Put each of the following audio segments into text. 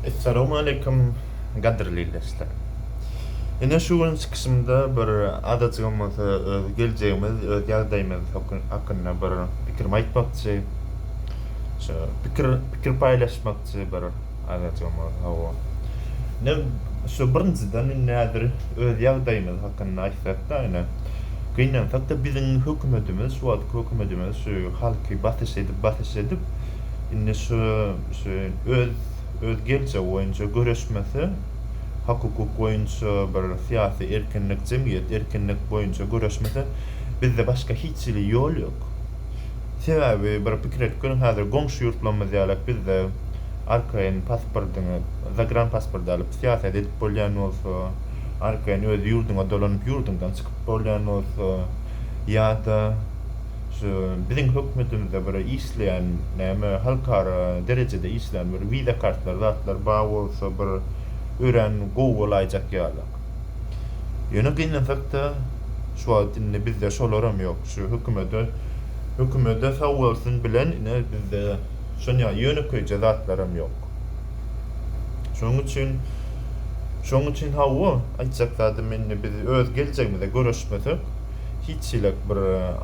Essalamu aleýkum gadyrly ildeşler. Ine şu gün çykyşymda bir azajygam bolsa öz geljegimiz, öz ýagdaýymyz hakynda bir pikirimi aýtmakçy. Şu pikir pikir paýlaşmakçy bir azajygam bolsa hawa. Ine şu birinjiden indi häzir öz ýagdaýymyz hakynda aýtsak-da ine gynansak-da biziň hökümetimiz şu wagtky hökümetimiz şu halky basyş edip basyş edip Indi şu şu öz öz geljegi boýunça göreşmese, hak-hukuk boýunça bir syýasy erkinlik, jemgyýet erkinlik boýunça göreşmese, bizde başga hiç hili ýol ýok. Sebäbi bir pikir edip görüň, häzir goňşy ýurtlarymyz ýalak bizde arkaýyn pasportyňy, zagran pasporty alyp syýasat edip bolýan bolsa, arkaýyn öz ýurduňa dolanyp ýurduňdan çykyp bolýan bolsa ýa-da, şu biziň hökümetimizde bir işleýän näme halkara derejede işleýän bir wiza kartlary zatlar bar bolsa bir örän gowy bolaýjak ýaly. Ýöne gynansakda şu wagt indi bizde şolaram ýok şu hökümede hökümede sag bolsun bilen ine bizde şonýa ýönekeýje zatlaram ýok. Şonuň üçin şonuň üçin hawa aýtjak zadym indi biz öz geljegimize göreşmesek hiç hili bir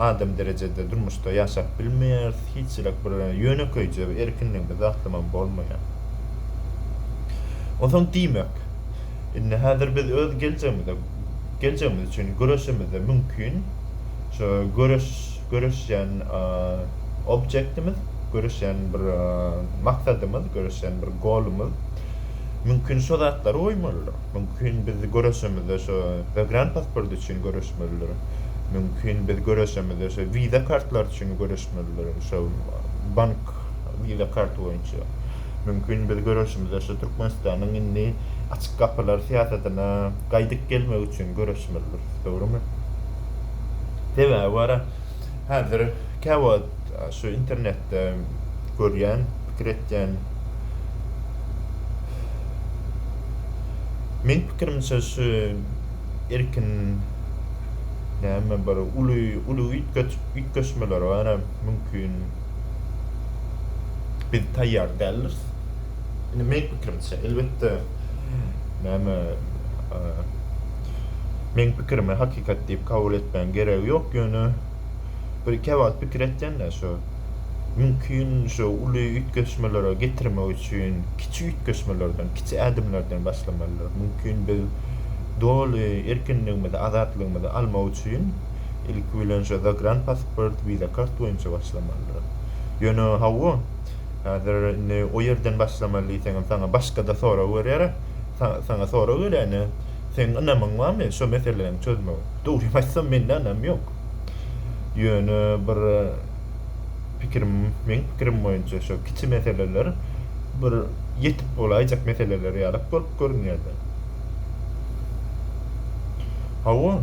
adam derejede durmuşda ýaşap bilmeýäris, hiç hili bir ýönekeýje bir erkinligimiz aslamam bolmaýar. Onsoň diýmek, indi häzir biz öz geljegimize, geljegimiz üçin göreşemizde mümkin şu göreş, göreşýän objektimiz, göreşýän bir maksadymyz, göreşýän bir golumyz mümkin şo zatlary goýmalydyr. Mümkin biz göreşemizde şo zagran pasporty üçin göreşmelidir. Mümkin biz göreşemizde şo wiza kartlary üçin göreşmelidir, şo bank wiza karty boýunça. Mümkin biz göreşimizde şo Türkmenistanyň indi açyk gapylar syýasatyna gaýdyp gelmegi üçin göreşmelidiris, dogrumy? Sebäbi bara. Häzir käwagt şu internetde görýän, pikir etýän. Meň pikirimçe şu erkin näme bir uly uly üýtgeç üýtgeşmeler baram mümkin. Biz taýýar däldiris. Indi meň pikirimçe, elbetde, näme, meň pikirimi hakykat diýip kabul etmegiň geregi ýok, ýöne bir kebagt pikir etseň-de, şo mümkin şo uly üýtgeşmelere getirmek üçin kiçi üýtgeşmelerden, kiçi ädimlerden başlamalydyr. Mümkin biz doly erkinligimizi, azatlygymyzy almak üçin ilki bilen şo zagranpasport, wiza kart boýunça başlamalydyrys. Ýöne hawa, Häzir indi o ýerden başlamaly diýseňem saňa başga-da sorag berýär. Saňa sorag berende, seň ynamyň barmy şo meseläni çözmegi? Dogrymy aýtsam, mende ynam ýok. Ýöne bir pikirim, meň pikirim boýunça şo kiçi meseleler bir ýetip bolaýjak meseleler ýalak bolup görünýär-de. Hawa,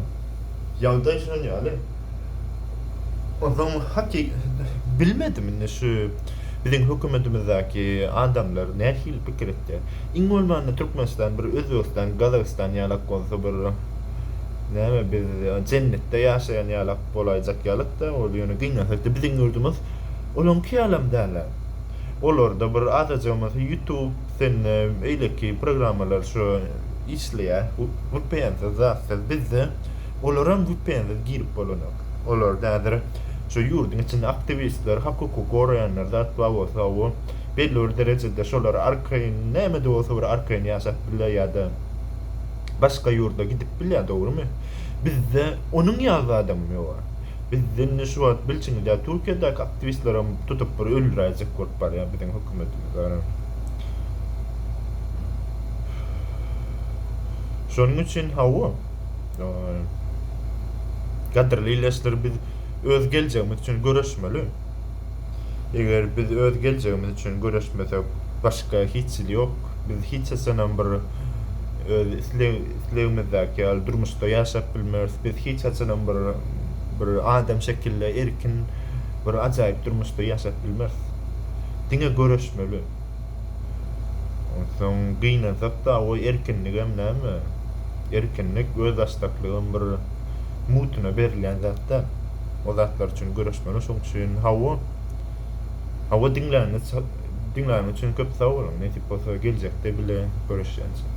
ýagdaý şunuň ýaly. Onsoň haky bilmedim indi şu biziň hökümetimizdäki adamlar nähili pikir etýär. Iň bolmanda Türkmenistan bir Özbegistan, Gazagystan ýalak bolsa bir näme biz jennetde ýaşaýan ýalak bolaýjak ýalakda ol ýöne gynansakda biziň ýurdumyz olaňky ýalam dälä. Olarda bir azajygymyz ýutub sende beýleki programmalar şu işleýä wpnsiz zatsyz bizde Olaram güpbäňsiz girip bolanok. Olarda häzir şu ýurduň içinde aktiwistler, hak hukugy goraýanlar zat bar bolsa gowy. Belli bir derejede şolar arkaýyn, näme-de bolsa bir arkaýyn ýaşap bilýär ýa-da başga ýurda gidip bilýär, dogrumy? Bizde onuň ýaly zadam ýok-a. Bizde indi şu wagt bilşiňiz ýaly Türkiýedäki aktiwistlerem tutup bir öldüräýjek bolup barýar biziň hökümetimiz ara. Şonuň üçin hawa. Gadyrly ildeşler biz öz geljegimiz üçin göreşmeli. Eger biz öz geljegimiz üçin göreşmesek başga hiç hili ýok. Biz hiç haçanam bir öz islegimizdäki ýaly durmuşda ýaşap bilmeris. Biz hiç haçanam bir bir adam şekilde erkin bir ajaýyp durmuşda ýaşap bilmeris. Diňe göreşmeli. Onsoň gynansak-da, o erkinligem näme? Erkinlik, özbaşdaklygam bir mutuna berilýän zat-da. O zatlar üçin göreşmeli, şoň üçin hawa. Hawa, diňläniňiz üçin köp sag boluň. Nesip bolsa, geljekde bile görüşýänçäk.